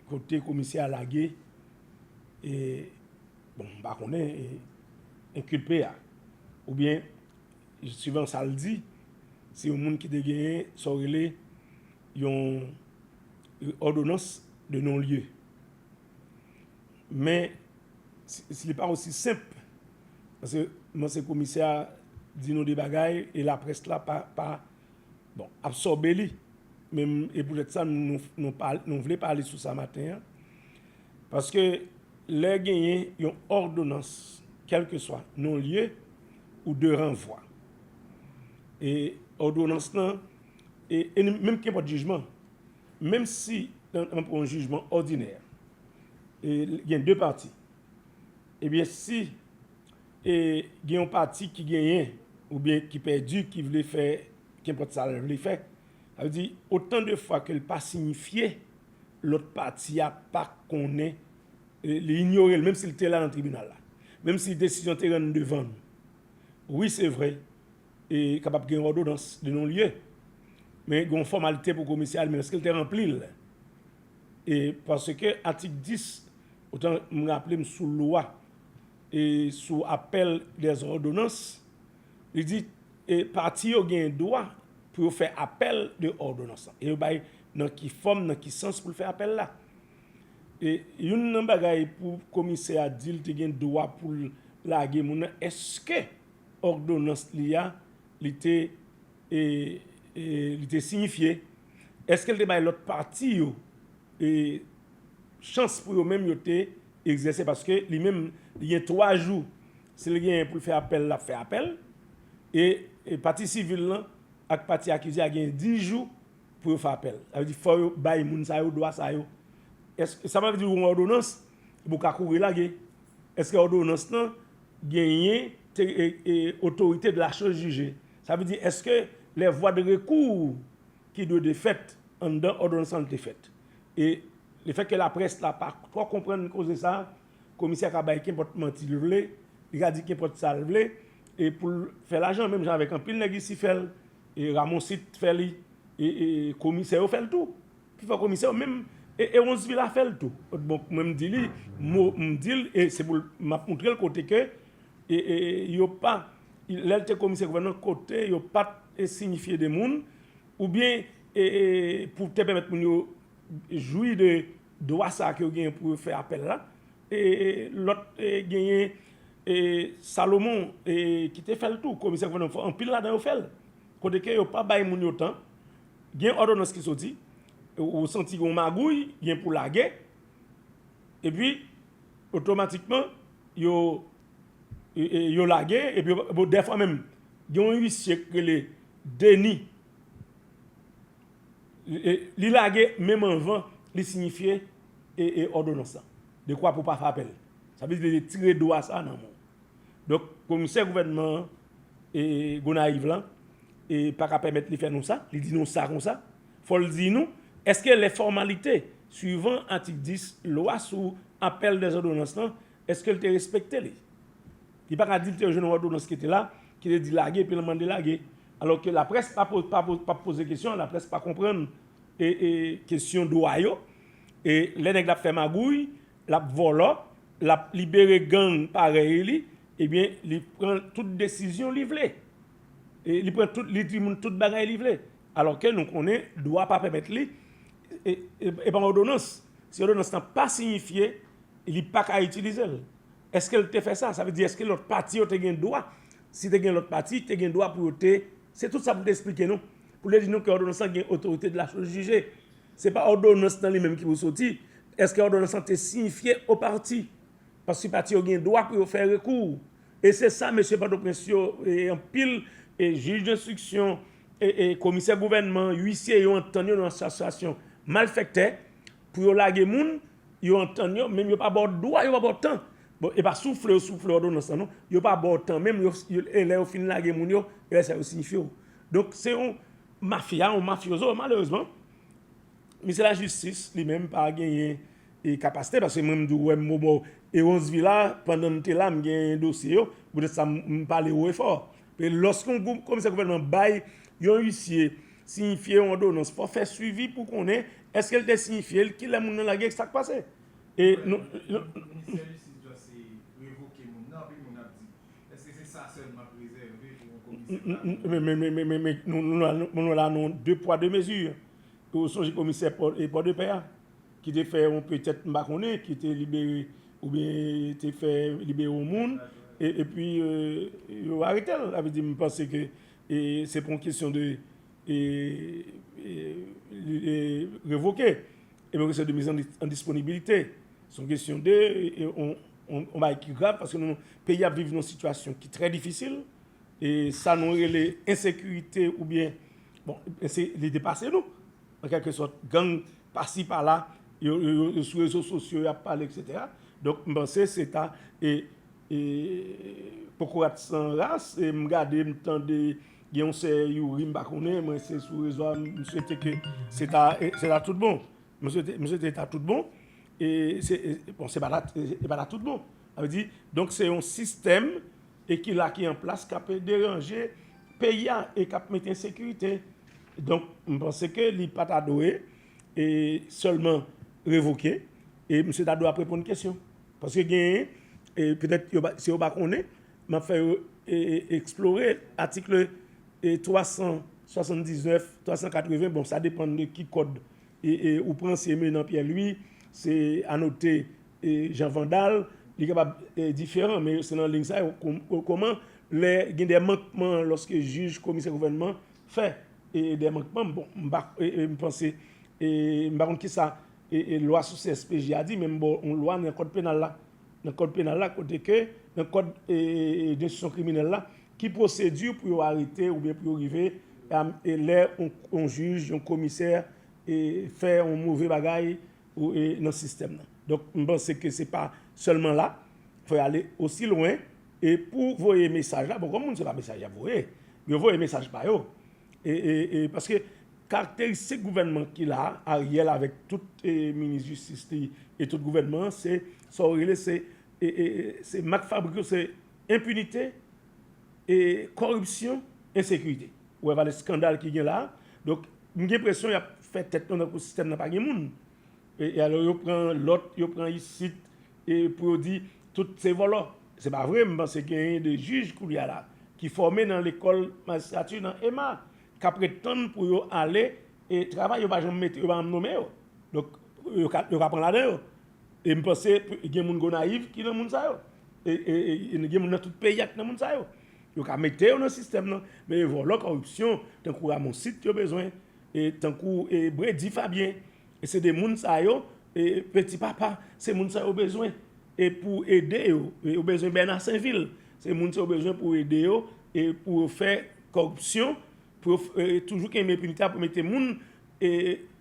Kote komisè a lage e bon m pa konnen e enkilpe a oubyen suivan sa l di se yon moun ki te genyen sa w rele yon òdonans de non lye. Men si li pa osi senp paske mwen se komisè a di nou de bagay e laprès la pa Bon, absòbe li. Men, e poutèt sa nou vle pale sou sa maten an. Paske, lè genyen yon òdonans, kèlkeswa non lye ou de ranvwa. E òdonans lan, e menm kenpòt jijman, menm si nan pou yon jijman òdinè, e gen de pati, ebyen si E gen yon pati ki genyen oubyen ki pèdi ki vle fè kenpòt sa l vle fè. Sa vle di, otan de fwa ke l pa sinyifye, lòt pati a pa konnen, li inyore l menm si l te la nan tribinal la, menm si desizyon te rann devan nou. Wi se vre, e kapab gen yon òdonans de non lye, men gen yon fòmalite pou komisè a li menm, èske l te ranpli l? E paske atik 10, otan m raple m sou lwa. e sou apèl des òdonans, li di e pati yo genyen dwa pou yo fè apèl de òdonans lan, e yo bay nan ki fòm, nan ki sans pou l fè apèl la. E youn nan bagay pou komisè a di l te gen dwa pou l lage moun nan, èske òdonans li a li te e li te siyifye, èske l te bay lòt pati yo e. chans pou yo menm yo te egzèse paske li menm li gen 3 jou si li genyen pou l fè apèl l ap fè apèl e pati sivil lan ak pati akize a genyen 10 jou pou yo fè apèl sa vle di fò yo bay moun sa yo dwa sa yo èske sa vle di yon òdonans epi w ka kouri lage èske òdonans lan genyen te e otorite de la chose jije sa vle di èske lè vwa de rekou ki dwe de fèt anndan òdonans lan te fèt. E lefètke laprès la pa twò konprann koze sa, komisè ka bay kenpòt manti l vle, li ka di kenpòt sa l vle e pou l fè lajan menm jan avèk anpil nèg isi fè l, Ramoncite fè li, komisè yo fè l tou. Pifò komisè yo menm e Heronsvilla fè l tou. Bon mwen m di li mo m di l e se pou l m ap montre l kote ke yo pa lè l te komisè gouvènman kote yo pa t sinyifye de moun oubyen E pou te pèmèt moun yo jwi de dwa sa ke yo genyen pou yo fè apèl la, e lòt genyen Salomon ki te fè l tou, komisè gouvènman fò, anpil ladan yo fè l, kote ke yo pa bay moun yo tan, gen òdonans ki soti, ou santi gen yon magouy, gen pou lage, epi otomatikman yo lage, epi dèfwa menm gen yon uisye ki rele Denis Li lage menm anvan li sinyifye òdonans la. Dekwa pou w pa fè apèl. Sa vle di li retire dwa sa a nan men w. Donk, komisè gouvènman Gonayiv lan pa ka pèmèt li fè nou sa, li di nou sa kon sa. Fò l di nou, èske lè fòmalite swivan atik 10 lwa sou apèl dèzòdonans lan Eske l te respekte li? Li pa ka di li te jwenn òdonans ki te la, ki te di lage epi l mande lage. Alò ke laprès pa ap poze kesyon, laprès pa konprann kesyon dwa yo. E lè nèg la ap fè magouy, l ap vòlò, l ap libere gang parèy li, ebyen li pran tout desizyon li vle. Li di moun tout bagay li vle. Alò ke nou konnen dwa pa pèmèt li Epa yon odonans, si odonans lan pa siyifye li pa ka itilizel. Eskel te fè sa? Sa vle di eske lòt pati yo te gen dwa? Si te gen lòt pati, te gen dwa pou yo te, se tout sa pou te esplike nou. Pou te di nou ke odonans lan gen otorite de la chose jugee. Se pa odonans lan li menm ki pou soti, eske odonans lan te siyifye o pati? Paske pati yo gen dwa pou yo fè rekou. E se sa mesye pòtoprens yo e anpil jij denstriksyon. Komisè gouvènman, uisye yo antann yo nan asosiyasyon malfèktè pou yo lage moun, yo antann yo menm yo pa baw dwa yo pa baw tan bon epa soufle yo soufle òdonans lan non yo pa baw tan menm e lè yo fin lage moun yo e lè sa yo sinifye w donk se yon mafya yon mafyozo malerezman misye lajistis li menm pa genyen e kapasite paske mwen m di w wè m mou baw e ronsvila pandan m te la m genyen dosye yo poutèt sa m pale wo e fò Pe Lòske yon komisè gouvènman bay yon isye siyifye yon òdonans, fò fè swivi pou konnen èske l te siyifye l, ki lè moun nan lage e sa k pase. E nou. Lè Ministè Jistis dwe se revoke moun nan, anpil moun ap di, èske se sa sèlman k rezève pou yon komisè pa gen dwa revoke? Men men nou la nou de pwa de mezi. Ou sonje komisè Pòdepè a? ki te fè yon petèt m pa konnen ki te libere oubyen te fè libere yon moun epi yo arete l sa vle di m panse ke se pou yon kesyon de revoke epi yon kesyon de miz an disponibilite se yon kesyon de yon bagay ki grav paske nou peyi a ap viv yon sitiyasyon ki trè difisil e sa nou rele ensekirite oubyen bon li depase nou an kèlke sòt gang pasi pala yo sou rezo sosyo yap pale etc donk m panse se ta e kokorat san ras e m gade m tande gen yon sè youri m pa konnen mwen se sou rezo a m swete ke se ta se ta tout bon m swete m swete se ta tout bon e se bon se pa ta se pa ta tout bon sa vle di donk se yon sistèm e ki la ki an plas kap deranje peyi a e kap mete ensekirite. Donk, m panse ke li pa ta dwe e sèlman revoke e misye ta dwe ap reponn kesyon. Paske genyen e petèt yo pa si yo pa konnen, m ap fè yo e eksplore atikle e 379, 380, bon sa depann de ki kòd e e ou pran si Emeline Pierre Louis, se Anote e Jean Vandal, li kapab e diferan men se nan liy sa yo kòman lè gen de mankman lòske jij, komisè gouvènman fè dè mankman bon m pa m panse m pa konn kisa lwa sou CSPJ a di men m ba w yon lwa nan kòd penal la nan kòd penal la kote ke nan kòd densyon kriminèl la ki pwosedi pou yo arete oubyen pou yo rive lè yon jij yon komisè fè yon move bagay nan sistèm nan donk m panse ke se pa sèlman la fò y ale osi lwen E pou voye mesaj la, bon kòm moun se pa mesaj yap voye, yo voye mesaj pa yo. E paske karakteristik gouvènman ki la, Ariel avèk tout minis jistis li e tout gouvènman an se sa ou rele se se mak fabrik yo se enpinite, e kòripsyon, ensekirite. Ou wè valè skandal ki gen la. Donk m gen presyon yap fè tèt nou tankou sistèm nan pa gen moun. E alò yo pran lòt, yo pran isit e pou yo di tout se vòlò. Se pa vre, m panse genyen de jij koulye a la ki fòme nan lekòl majistrati nan ema k ap ret tann pou yo ale travay, yo pa janm mete, yo pa janm nome yo. Donk yo ka pran ladan yo. E m panse gen moun Gonayiv ki nan moun sa yo. E gen moun nan tout peyi a ki nan moun sa yo. Yo ka mete yo nan sistèm nan men vòlò kòripsyon tankou Ramonsit yo bezwen e tankou e bredi fabien e se de moun sa yo e peti papa se moun sa yo bezwen e pou ede yo e yo bezwen bèna senvil se moun sa yo bezwen pou ede yo e pou yo fè kòripsyon pou yo toujou ken men pinita pou mete moun e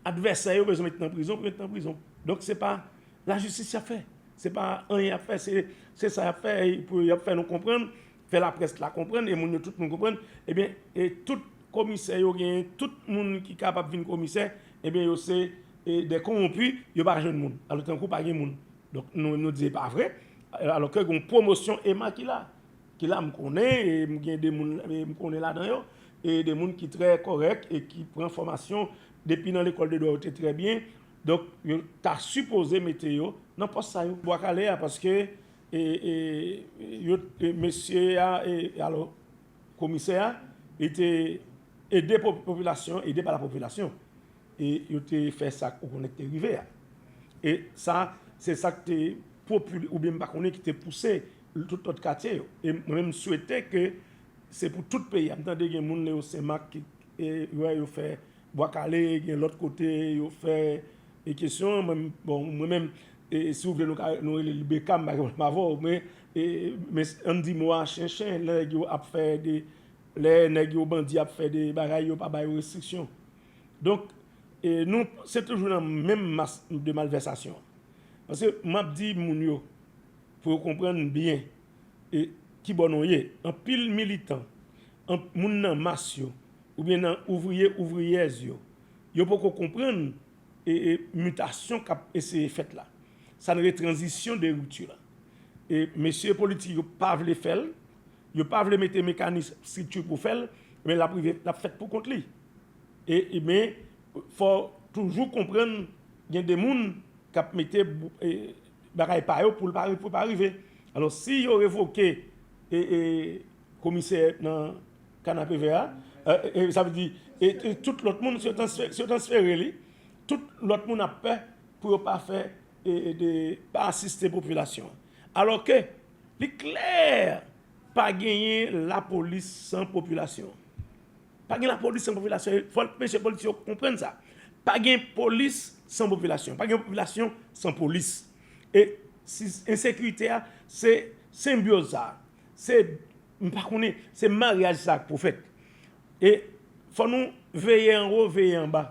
advèsè yo bezwen mete nan prizon pou yo mete nan prizon donk se pa lajistis yap fè se pa anyen yap fè se sa yap fè pou yap fè nou konprann fè laprès la konprann e moun yo tout moun konprann ebyen e tout komisè yo genyen tout moun ki kapab vin komisè ebyen yo se dè konwonpi yo pa jwenn moun alò tankou pa gen moun donk nou menm nou di e pa vre alò ke gon pwomosyon ema ki la ki la m konnen e m gen de moun e m konnen ladan yo e de moun ki trè kòrèk e ki pran fòmasyon depi nan lekòl de dwa yo te trè byen donk yo ta sipoze mete yo nan pòs sa yo. Bwa kale a paske E yo te mesye a e alo komisè a li te ede popilasyon ede pa la popilasyon e yo te fè sa ou konnen te rive a e sa se sak te popil ou byen pa konnen ki te pouse tout lòt katye yo e mwen m swete ke se pou tout peyi a m tande gen moun le yo senmak ki e yo fè Bwa kale gen lot kote yo fè e kesyon an mwen bon mwen menm e si ou vle nou ka nou rele li beka m pa gen pwoblèm avè w men e men an di mo a chen chen lè nèg yo ap fè de lè nèg yo bandi ap fè de bagay yo pa ba yo restriksyon donk e nou se toujou nan menm mas de malvèsasyon paske m ap di moun yo pou yo konprann byen e kibò nou ye anpil militan anp moun nan mas yo. oubyen nan ouvriye ouvriyèz yo, yo poko konprann mutasyon kap eseye fèt la, sa n re tranzisyon de ripti la. E mesye politik yo pa vle fè l, yo pa vle mete mekanis strikti pou fè l, men lap rive, lap fèt pou kont li. E men fò toujou konprann gen de moun kap mete bagay pa yo pou l pa rive. Alò si yo revoke e. Komisè nan kanapevè a, sa vle di tout lòt moun, si yo transfere li, tout lòt moun ap pè pou yo pa fè, pa asiste popilasyon an. Alò ke li klè pa genyen lapolis san popilasyon an. Pa gen lapolis san popilasyon an. Fòk mesye polis yo konprann sa. Pa gen polis san popilasyon an. Pa gen popilasyon san polis. E ensekirite a se senbyoz sa a. Se m pa konnen se maryaj sa ak pwofèt e fò nou veye anwo veye anba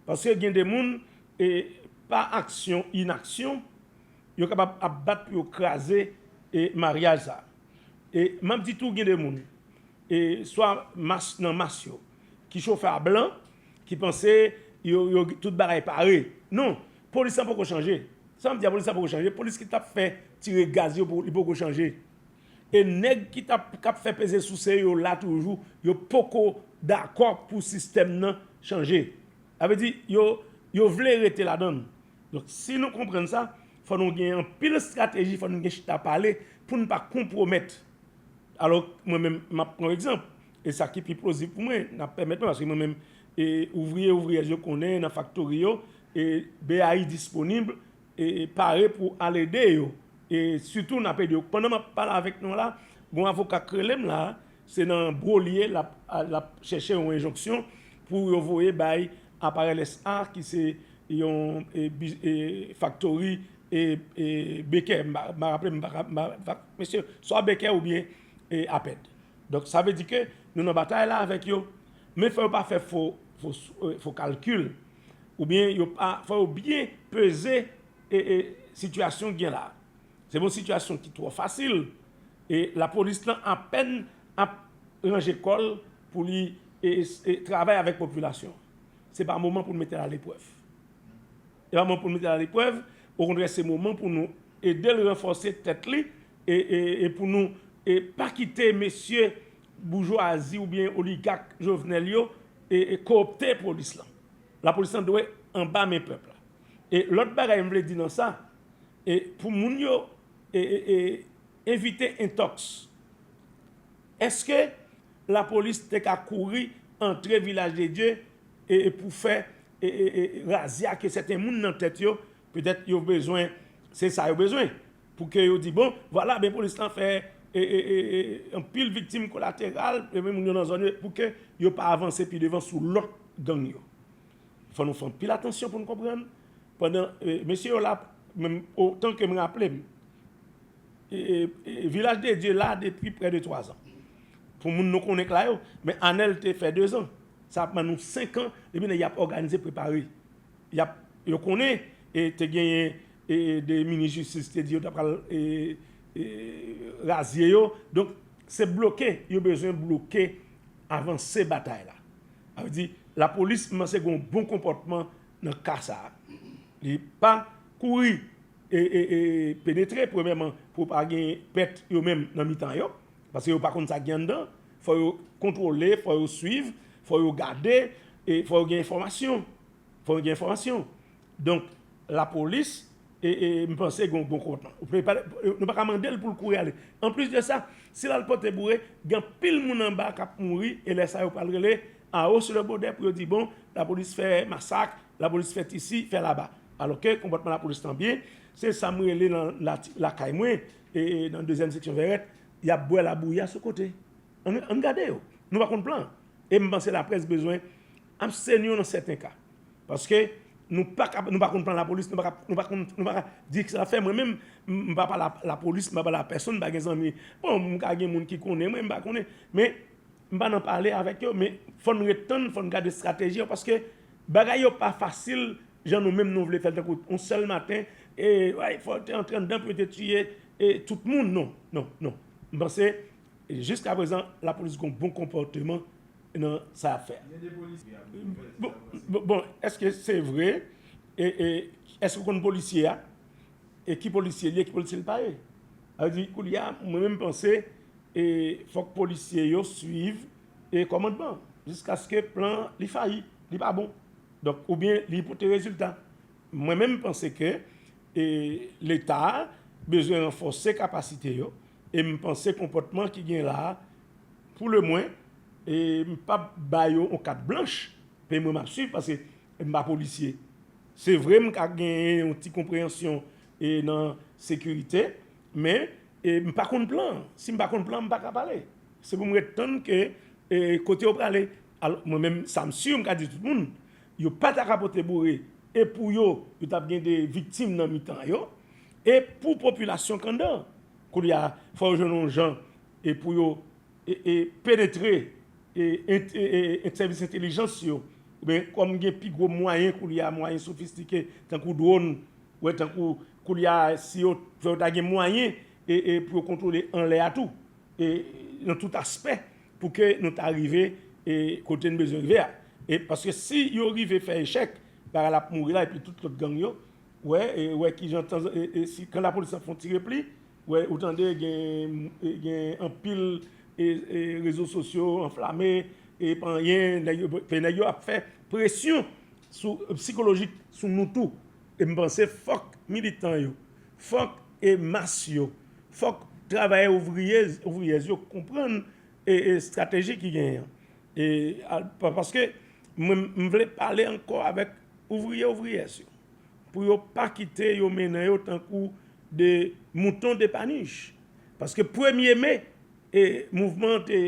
paske gen de moun e pa aksyon inaksyon yo kapab ap bat pou yo kraze e maryaj sa e map di tou gen de moun e swa mas nan mas yo ki chofè a blan ki panse yo yo tout bagay pare non Polis la poko chanje. Sa wap di a polis la poko chanje? Polis ki tap fè tire gaz yo li poko chanje? E nèg ki tap kap fè peze souse yo la toujou yo poko dakò pou sistèm nan chanje. Sa vle di yo yo vle rete ladann. Donk si nou konprann sa fò nou gen anpil estrateji fò nou gen chita pale pou nou pa konpwomèt. Alò mwen menm map pran yon egzanp e sa ki pi plozib pou mwen nap pèmèt mwen paske mwen menm Ouvriye ouvriyèz yo konnen nan faktori yo BAI disponib e pare pou al ede yo e sitou nap ede yo pandan map pale avèk nou la gon avoka k rele m la se nan bro li ye lap chèche yon enjonksyon pou yo voye bay Aparel SA ki se yon faktori Bekè m pa raple m mesye swa Bekè oubyen Apèd donk sa vle di ke nou nan batay la avèk yo. Men fò yo pa fè fo kalkil oubyen yo pa fò yo byen peze sitiyasyon gen la. Se yon sitiyasyon ki twò fasil e lapolis lan apèn ap ranje kò l pou li travay avèk popilasyon an. Se pa moman pou nou mete l aleprèv. Se pa moman pou nou mete l aleprèv, okontrè se moman pou nou ede l ranfòse tèt li e pou nou pa kite mesye Boujwazi oubyen oligak Jovenel yo koopte polis lan. Lapolis lan dwe anba men pèp la. E lòt bagay m vle di nan sa, pou moun yo evite entòks. Eske lapolis te ka kouri antre Vilaj de Dye pou fè razia ke sèten moun nan tèt yo petèt yo bezwen se sa yo bezwen. Pou ke yo di bon, vwala ben polis lan fè anpil viktim kolateral, men moun yo nan zòn yo, pou ke yo pa avanse pi devan sou lòt gang yo. Fò nou fè anpil atansyon pou nou konprann, pandan mesye yo la, menm otan ke m raple m, Vilaj de Dye la depi prè de 3 zan. Pou moun nou konnen k la yo, men Anèl te fè 2 zan. Sa ap ban nou 5 an, depi nèg y ap òganize, prepare. Yo konnen te genyen e 2 minis jistis te di yo ta pral e e razye yo donk se bloke yo bezwen bloke avanse batay la sa vle di lapolis kmanse gen yon bon konpòtman nan ka sa li pa kouri e e e penetre premyèman pou pa gen pèt yo menm nan mitan yo paske yo pa konn sa ki gen anndan fò yo kontwole fò yo swiv fò yo gade e fò yo gen enfòmasyon fò yo gen enfòmasyon Donk la polis m panse gen yon bon konplo. Nou pa ka mande l pou l kouri ale. Anplis de sa, si l al pote boure, gen anpil moun anba k ap mouri e lè sa yo pral rele a hausse le bode pou yo di bon lapolis fè masak, lapolis fè tisi, fè laba. Alò ke konpòtman lapolis lan byen. Se sa m rele nan lakay mwen nan dezyèm seksyon Vèrèt, y ap bwè labouya sou kote. An n gade yo. Nou pa konn plan. E m panse laprès bezwen. Abstenyon nan sèten ka. Paske nou pa ka, nou pa konn plan lapolis, nou pa ka, nou pa konn, nou pa ka di kisa lap fè. Mwen menm, m pa pale a lapolis, m pa pale a pèsonn, m pa gen zanmi. Bon, m ka gen moun ki konnen mwen, m pa konnen. Men, m pa nan pale avèk yo. Men, fò n ret tann, fò n gade estrateji an. Paske bagay yo pa fasil jan nou menm nou vle fè l. Tankou yon sèl maten, e, way, fò yo te antre anndan pou yo te tiye e tout moun. Non, non, non. M panse. Jiska prezan lapolis gon bon konpòteman nan sa yap fè bon eske se vre eske ou konn polisye a e ki polisye liye ki polisye li pa ye sa vle di koulye a mwen menm panse fòk polisye yo swiv e kòmandman jiskaske plan li fayi li pa bon donk oubyen li pote rezilta mwen menm panse ke leta bezwen ranfòse kapasite yo e m panse konpòtman ki gen la pou le mwen e m pap ba yo yon kat blanch men mwen map swiv paske m pa polisye se vre m ka gen yon ti konpreyansyon e nan sekirite men e m pa konn plan si m pa konn plan m pa ka pale se pou m ret tann ke e kote yo prale al mwen menm sa m si m ka di tout moun yo pa ta ka pote boure e pou yo yo tap gen de viktim nan mitan yo E pou popilasyon Kandan? Koulye a, fò yo jwenn yon jan pou yo penetre sèvis entelijans yo. Oubyen kòm gen pi gwo mwayen koulye a, mwayen sofistike tankou dwòn, tankou koulye a si yo ta gen mwayen pou yo kontwole anlè a tou, nan tout aspè pou ke nou ta rive kote nou bezwen rive a. Paske si yo rive fè echèk, bagay la ap mouri la epi tout lòt gang yo Wè e wè kijan tan e e si kan lapolis ap fon ti repli wè ou tande gen gen anpil e e rezo sosyo anflame e pa anyen nèg yo pè nèg yo ap fè presyon sou psikolojik sou nou tou e m panse fòk militan yo fòk e mas yo fòk travayè ouvriye ouvriyèz yo konprann e e estrateji ki genyen an e a paske mwen m vle pale ankò avèk. Ouvriye ouvriyèz yo, pou yo pa kite yo mennen yo tankou de mouton depanij. Paske premye me, mouvman an te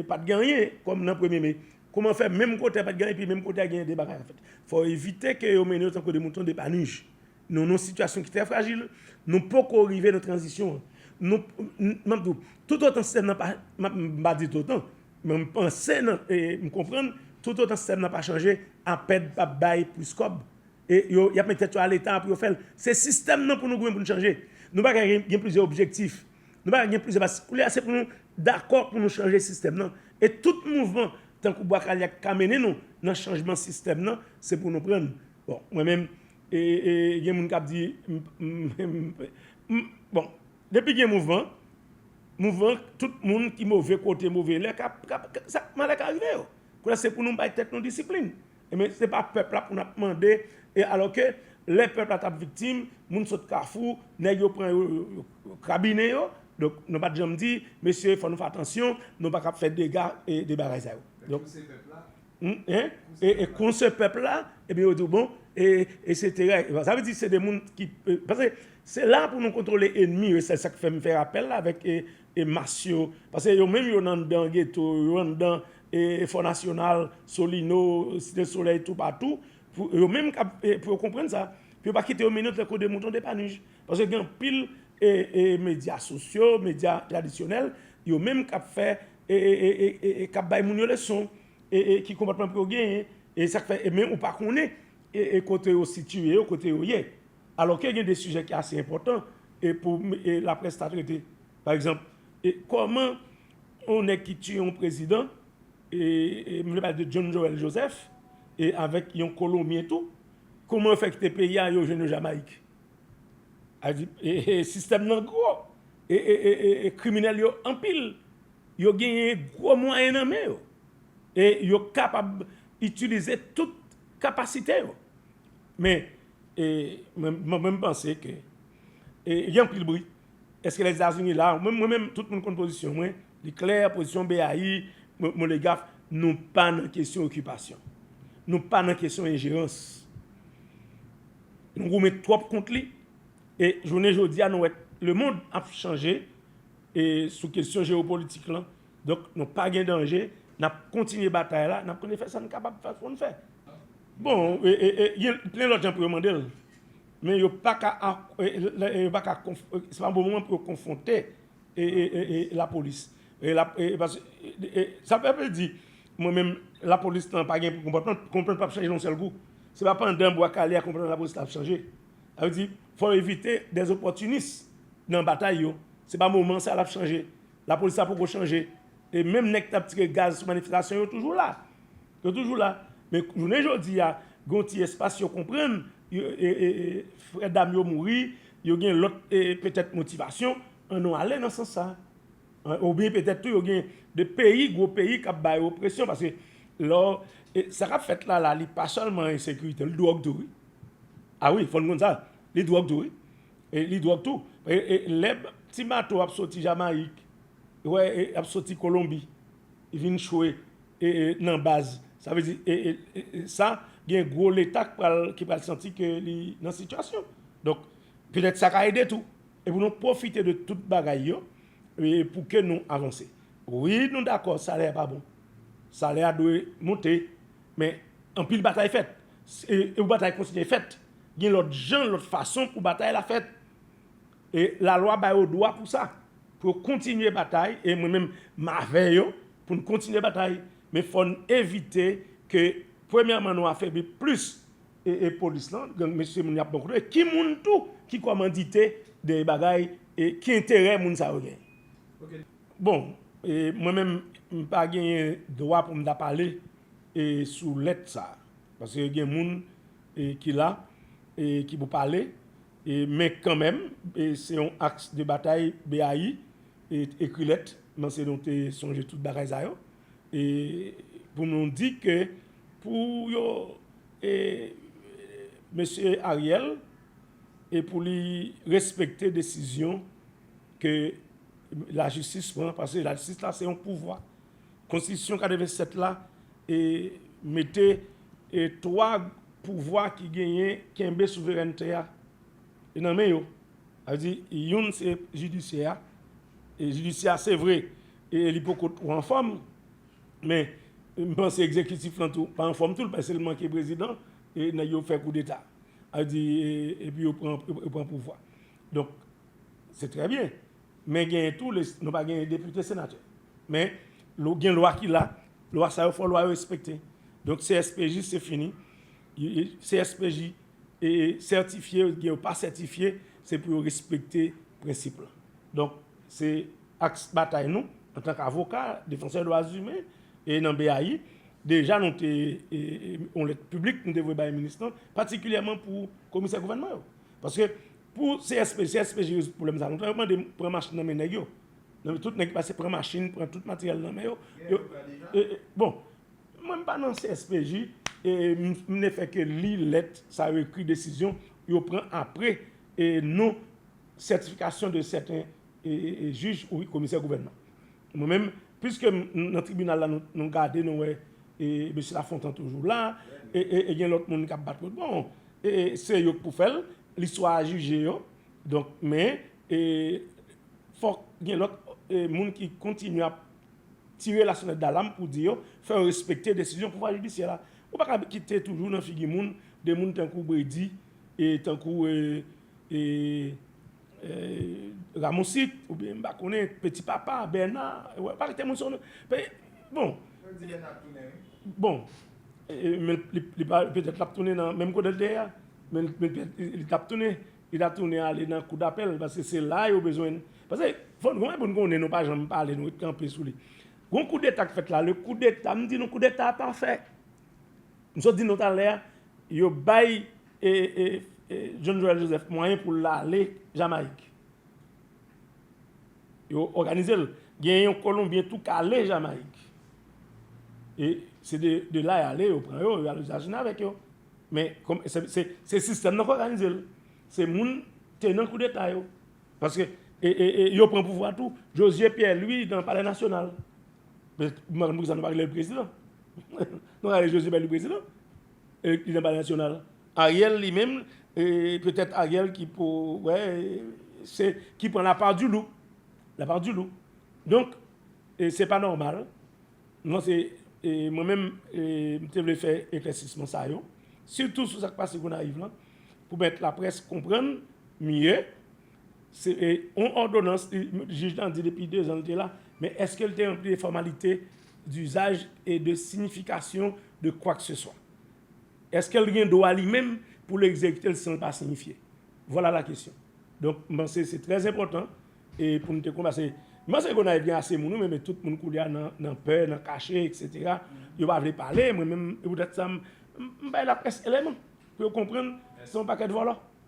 pa t gen anyen kòm nan premye me. Kouman fè menm kote a pa t gen anyen epi menm kote a gen de bagay an fèt? Fò evite ke yo mennen yo tankou de mouton depanij. Nou nan yon sitiyasyon ki trè frajil. Nou poko rive nan tranzisyon an. M ap di w, toutotan sistèm nan pa, m pa di toutotan, Men m panse nan e m konprann toutotan sistèm nan pa chanje apèd pap bay plis kòb e yo yap met tèt yo a leta pou yo fèl se sistèm nan pou nou goumen pou nou chanje nou paka gen plizyè objektif nou paka gen plizyè baz koulye a se pou nou dakò pou nou chanje sistèm nan e tout mouvman tankou bwa kale a ki ka mennen nou nan chanjman sistèm nan se pou nou prann bon mwen menm e gen moun kap di m m m bon. Depi gen mouvman, mouvman tout moun ki move kote move lè ka malè ka rive yo. Kounye a se pou nou bay tèt nou disiplin. Ebyen se pa pèp la pou n ap mande e alò ke lè pèp la t ap viktim, moun sot kafou, nèg yo pran yo, yo krabinen yo. Donk nou pa t janm di, mesye fò nou fè atansyon, nou pa ka ap fè dega e de bagay sa yo. Donk. Hum e konse pèp la ebyen yo di w bon e se te règ sa vle di se de moun ki pase se la pou nou kontwole enmi yo se sak fè m fè apèl la avèk e mas yo pase yo menm yo nan dan geto yo an dan e fò nasyonal solino site solèy tou patou pou yo menm kap pou yo konprann sa pou yo pa kite yo mennen yo trè kou de mouton de panuj pase gen anpil e e medya sosyo medya tradisyonèl yo menm kap fè e kap bay moun yo leson e ki konpòtman pou yo genyen e sak fè e men ou pa konnen e kote yo sitye yo kote yo ye alò ke gen de sijè ki ase enpòtan e pou la près ta trete pa egzanp e kòman on nèg ki tiye on prezidan e m vle pale de John Joel Joseph e avèk yon kolonbyen tou kouman fè kite peyi a yo jwenn yo Jamayik Al di e sistèm nan gwo e kriminèl yo anpil yo genyen gwo mwayen nan men yo e yo kapab itilize tout kapasite yo men mwen menm panse ke gen anpil bri eske lèzetazini la mwen menm tout moun konn pozisyon mwen li klè pozisyon BAI molegaf nou pa nan kesyon okipasyon nou pa nan kesyon enjerans Nou goumen twòp kont li e jounen jodi a nou wè lemond ap chanje e sou kesyon jewopolitik lan. Donk nou pa gen danje, n ap kontinye batay la, n ap kontinye fè sa n kapab fè pou n fè. Bon, gen plen lòt jan pou yo mande l, men yo pa ka, se pa bon moman pou yo konfwonte la polis sa pa vle di mwen menm la polis nan pa gen konpòtman konpòtman pap chanje nan yon sèl kou se pa pandan bwa kale a konpòtman la polis la ap chanje sa vle di fò evite dèz opòtinis nan batay yo se pa moman sa lap chanje la polis la poko chanje e menm nèg k tap tire gaz sou manifestasyon yo toujou la Yo toujou la, men jounen jodi a, gen yon ti espas yo konprann, frè dam yo mouri, yo gen lòt petèt motivasyon, an nou ale nan sans sa. Oubyen petèt tou yo gen 2 peyi, gwo peyi k ap ba yo presyon, paske lò, sa k ap fèt la la, li pa sèlman ensekirite, li dwòg tou wi. A wi, fò n konn sa, li dwòg tou wi. Li dwòg tou. Lè ti bato ap soti Jamayik, wè, ap soti Kolonbi, vin chwe nan baz sa vle di sa gen gwo leta k pral ki pral santi ke li nan sitiyasyon donk petèt sa ka ede tou e pou nou pwofite de tout bagay yo pou ke nou avanse wi nou dakò salè a pa bon salè a dwe moute men anpil batay fèt e pou batay kontinye fèt gen lòt jan lòt fason pou batay la fèt. E lalwa ba yo dwa pou sa, pou yo kontinye batay, e mwen menm m avè yo pou n kontinye batay, men fò n evite ke premyèman nou afebli plis e polis lan, gang mesye moun y ap bon kote, ki moun tou ki kòmandite dèyè bagay e ki enterè moun sa yo genyen. Bon, mwen menm m pa genyen dwa pou m ta pale sou lèt sa a. Paske gen moun ki la e ki pou pale e men kanmenm e se yon aks de batay BAI e ekri lèt nan se nou te sonje tout bagay sa yo e pou nou di ke pou yo e mesye Ariel e pou li respekte desizyon ke lajistis pran paske lajistis la se yon pouvwa. Konstitisyon 87 la mete 3 pouvwa ki genyen kenbe souverènte a nan men yo. Sa vle di youn se jidisyè a. Jidisyè a se vre li poko twò anfòm men m panse egzekitif lan tou pa anfòm tou l pase l manke prezidan e nèg yo fè koudeta. Sa vle di epi yo pran pouvwa. Donk se trè byen. Men genyen tou les nou pa genyen depite senatè. Men lou gen lwa ki la, lwa sa yo fò lwa yo respekte. Donk CSPJ se fini. CSPJ e sètifye ou byen yo pa sètifye, se pou yo respekte prensip lan. Donk se aks batay nou antan k avoka, defansè dwa zimen e nan BAI. Deja nou te yon lèt piblik nou te voye bay minis lan patikilyèman pou komisè gouvènman yo. Paske Pou CSPJ, CSPJ rezoud pwoblèm sa. Nou ta yo mande pran machin nan men nèg yo. Nan tout nèg ki pase pran machin, pran tout materyèl nan men yo. Gen yon ka deja? Bon, mwen m pa nan CSPJ, m ne fè ke li lèt sa yo ekri desizyon yo pran apre non sètifikasyon de sèten jij ou komisè gouvènman. Mwen menm piske m nan tribinal la nou gade nou wè mesye Lafontan toujou la e gen lòt moun kap bat kout bon se yo k pou fè l listwa a jije yo donk men fòk gen lòt moun ki kontinye ap tire la sonèt dalam pou di yo fè yo respekte desizyon pouvwa jidisyè la ou pa ka kite toujou nan figi moun de moun tankou Bredi tankou Ramosit oubyen m pa konnen peti papa bèna wè pa rete moun sa w nan peye bon yo di bèna ap tounen wi bon men li pa petèt lap tounen nan menm kote l te ye a men li tap tounen li ta tounen ale nan kou dapèl paske se la yo bezwen pase fòn gen yon bagay pou n konnen nou pa janm pale nou ret kanpe sou li gon koudeta k fèt la le koudeta m di nou koudeta a pa fè M sot di nou talè a, yo bay John Joel Joseph mwayen pou l ale Jamayik. Yo òganize l. Gen yon kolonbyen tou k ale Jamayik. E se de la y ale, yo pran yo, yo ale Etazini avèk yo. Men, se sistèm nan k òganize l. Se moun tenan koudeta yo. Paske yo pran pouvwa tou. Jozye Pyè Lwi nan palè nasyonal. Madan poukisa nou pa relel prezidan nou rele Joseph Bailey prezidan e li nan palè nasyonal Ariel li menm petèt Ariel ki pou wè se ki pran la part du loup la part du loup donk se pa nòmal mwen se mwen menm m te vle fè eklèsisman sa yo sitou sou sak pase Gonayiv lan pou mèt laprès konprann mye Se yon òdonans jij lan di depi dezan li te la, men èske li te ranpli de fòmalite dizaj e de siyifikasyon de kwakseswa? Èske li gen dwa li menm pou li egzekite l san l pa siyifye? Vwala la kesyon. Donk, m panse se trè enpòtan e pou nou te konn pase. M panse Gonayiv gen ase moun wi, men tout moun koulye a nan pè, nan kache eksetera. Yo pa vle pale, mwen menm e poutèt sa m bay laprès eleman pou yo konprann se yon pakèt vòlò.